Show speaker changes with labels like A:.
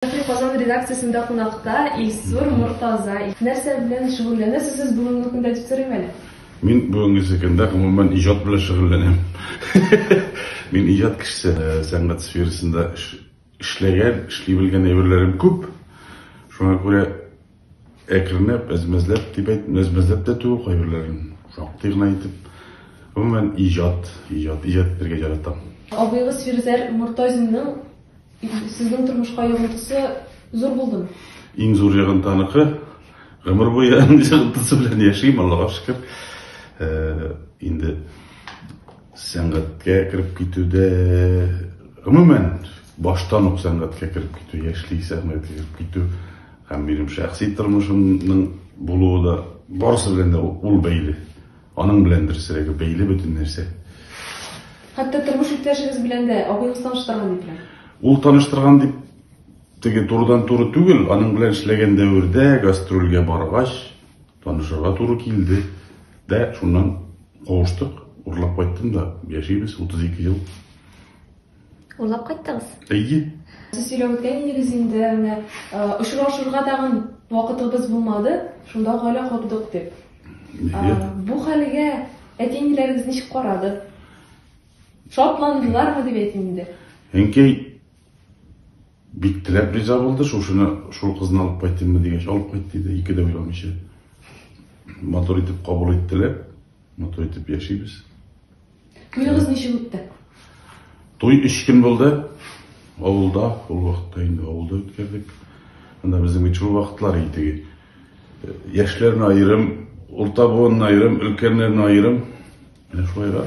A: Шәфи Казан редакциясендә кунакта Илсур Мортаза. Нәрсә белән шөгыльләнәсез сез бүгенге көндә дип сорыйм әле? Мин бүгенгесе көндә, гомумән, иҗат белән шөгыльләнәм. Мин иҗат кешесе. Сәнгать сферасында эшләгән, эшли белгән әйберләрем күп. Шуңа күрә. Әкренләп, әзмәзләп дип әйт, әзмәзләп тә түгел кайберләрен, шактый гына итеп. Гомумән, иҗат, иҗат, иҗат итәргә яратам. Абыегыз Фирзәр Мортазинның сезнең тормышка йогынтысы зур булдымы? Иң зур йогынты аныкы. Гомер буе аның йогынтысы белән яшим, Аллага шөкер. Э, инде сәнгатькә кереп китүдә, гомумән, баштан ук сәнгатькә кереп китү, яшьли сәнгатькә кереп китү Һәм минем шәхси тормышымның булуы да барысы белән дә ул бәйле. Аның белән дөресрәге бәйле бөтен нәрсә. Хәтта тормыш иптәшегез белән дә абыегыз таныштырган дип беләм. Ул таныштырган дип теге турыдан туры түгел, аның белән эшләгән дәвердә гастрольгә баргач танышырга туры килде. Дә шуннан кавыштык, урлап кайттым да, яшибез 32 ел. Урлап кайттыгыз? Әйе. Сез сөйләп үткән идегез инде, менә очрашырга тагын вакытыбыз булмады, шунда гаилә кордык дип. Бу хәлгә әти-әниләрегез ничек карады? Шатландылармы дип әйтим инде. Әнкәй бик теләп риза булды, шушыны шул кызны алып кайтыйммы дигәч, алып кайт диде, ике дә уйламыйча. Матур итеп кабул иттеләр, матур итеп яшибез. Туегыз ничек үтте? Туй өч көн булды. Авылда, ул вакытта инде авылда үткәрдек. Анда безнең бит шул вакытлар иде. Э, яшьләрне аерым, урта буынны аерым, өлкәннәрне аерым. Менә шулай да.